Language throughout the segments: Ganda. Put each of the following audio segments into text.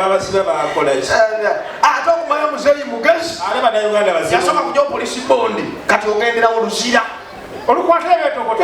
abasibe bakola ki ate okumanya muzeeyi mugezi ate banauganda bazibu yasooka kuja opolisi bondi kati ogenderawo luzira olukwata ebyotokoto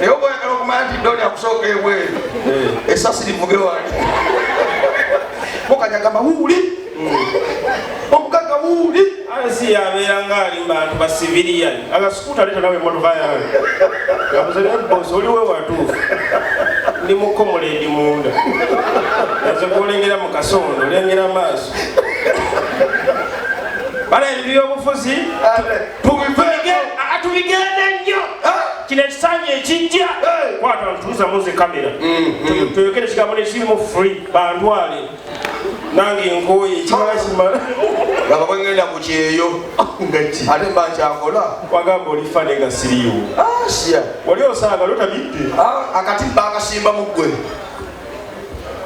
naye oba oyagala okumanya nti doli akusooka ebweru eh. esasi livuge wali mukanya gamba wuuli omugaga wuuli asi yabeera nga ali mubantu basiviliyani agasukuuta leeta nawe emotoka yange gabuze naye bosi oliwe watuufu ndi mukomola edi munda aze kulengera mu kasondo lengera maaso bala ebibyobufuzi tubigende nnyo kino ekisanja ekijja kwata ntuuza muzi kamera mm-hmm. tuyogere ekigambo nekirimu free bantwale nange nkoye ekimala kimala laba bwengenda ku kyeyo ate mba nkyakola wagamba oli fane nga siriiwo ah, wali osaaga lotabidde ah, akatimba akasimba mu ggwe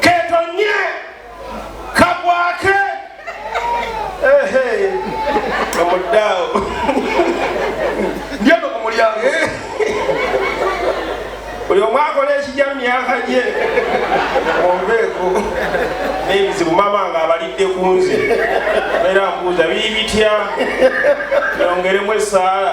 ketonye kagwake omuddaawo ndyono ku mulyango buli omu akola ekijja mu myaka gye onveeko n'ebizibu mama nga abalidde ku nze era mbuuza biri bitya yongeremu esaala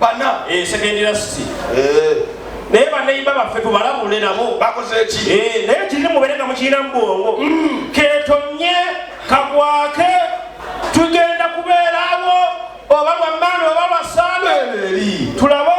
bana eh, second university eh. naye baneyimba baffe tubalabule nabo bakozeki eh, naye kirina mubere nga mukirina mubwongo mm. ketonye kagwake tugenda kubeerawo oba lwamaani oba lwasaano tulabe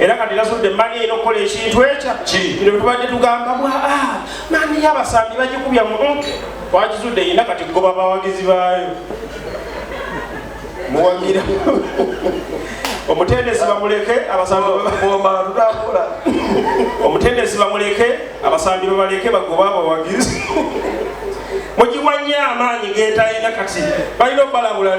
era kati nasudde mani eno okukola ekintu ekya kino betubadde tugamba bwa ah, mani yabasambi bagikubya mu twakizudde yina kati goba bawagizi baayo muwagira omutendesi bamuleke abasambiomatutakula omutendesi bamuleke abasambi babaleke bagoba abawagizi mugiwanye amaanyi getalina kati balina okubalabula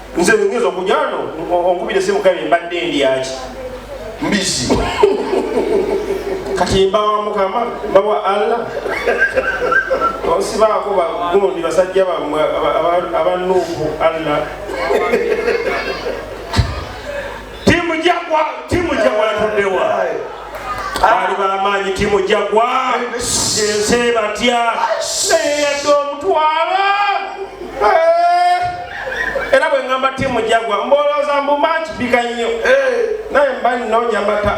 nze ngezo okujano onkubira esimu kabe mbadde endyaki mbizi kati mbawa mukama mbawa allah osibaako bagundi basajja bamwe abanuufu allah Timu Jagwa, timu Jagwa yatuddewa. Ali bamaanyi timu Jagwa. Yense batya. Naye yadde omutwala. Eh. Era bwe ngamba timu Jagwa mbolooza mbu match bika nnyo. Eh. Naye mba nnoonya mata.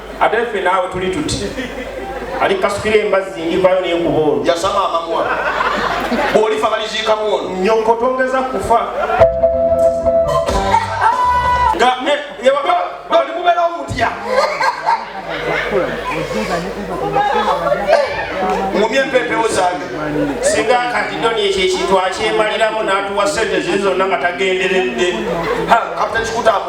ate ffe naawe tuli tuti ali kasukira embazzi ndivayo nenkuba ono yasama amamwa bwolifa baliziikamu ono nyoko tongeza kufa nga yewaka bali mubera omutya ngumye empepewo zange singa katidoni ekyo ekintu akyemaliramu natuwa sente ziri zonna nga tagenderedde kapita kikutamu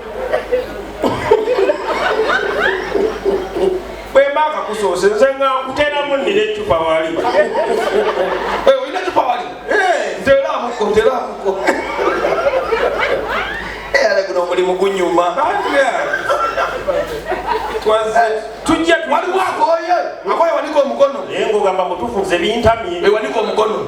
bwemba akakusoose nze nga nkuteramu nina ecupa wali eh, olina ecupa wali eh. nteramuko nteramuko eh, ale guno omulimu gunyuma tujja waliwo akoye akoye wanika omukono naye ngaogamba mutufu nze bintamye wanika omukono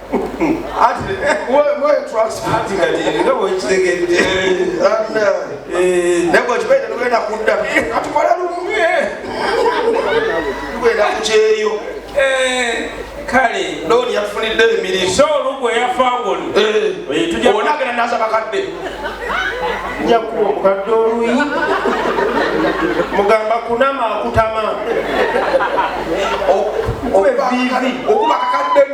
ati mwetwasati kati nga bwekitegedde naye bwekibaire tugenda kudda katukola lumu tugenda kukyeyo kale looni yatufunidde emirimu so olugwe yafa ngoli onagenda naza bakadde njakuwa omukadde oluyi mugamba kunama akutama okuba kakadde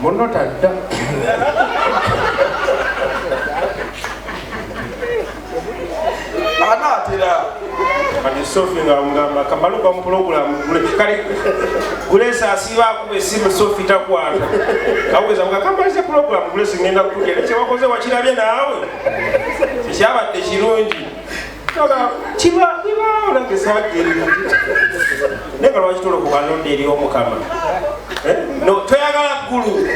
Munno tadda. Anaatera. Kati Sophie nga mugamba kamalu kwa mpulogulamu gule kali gulesa asiba akuba esimu Sophie takwata kaweza mga kamalize pulogulamu gulesa ngenda kukugera kyewakoze wakirabye naawe kyabadde kirungi kiba bibaawo nange sabagerera naye nga lwaki tolokuba nonda eri omukama eh? no toyagala ggulu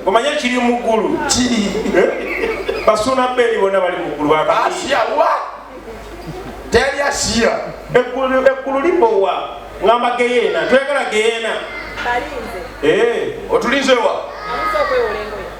omanye kiri mu ggulu kiri eh? basuuna beeri bona bali mu ggulu asiya wa teri asiya eggulu libowa ngamba geyeena toyagala geyeena eh. otulinzewa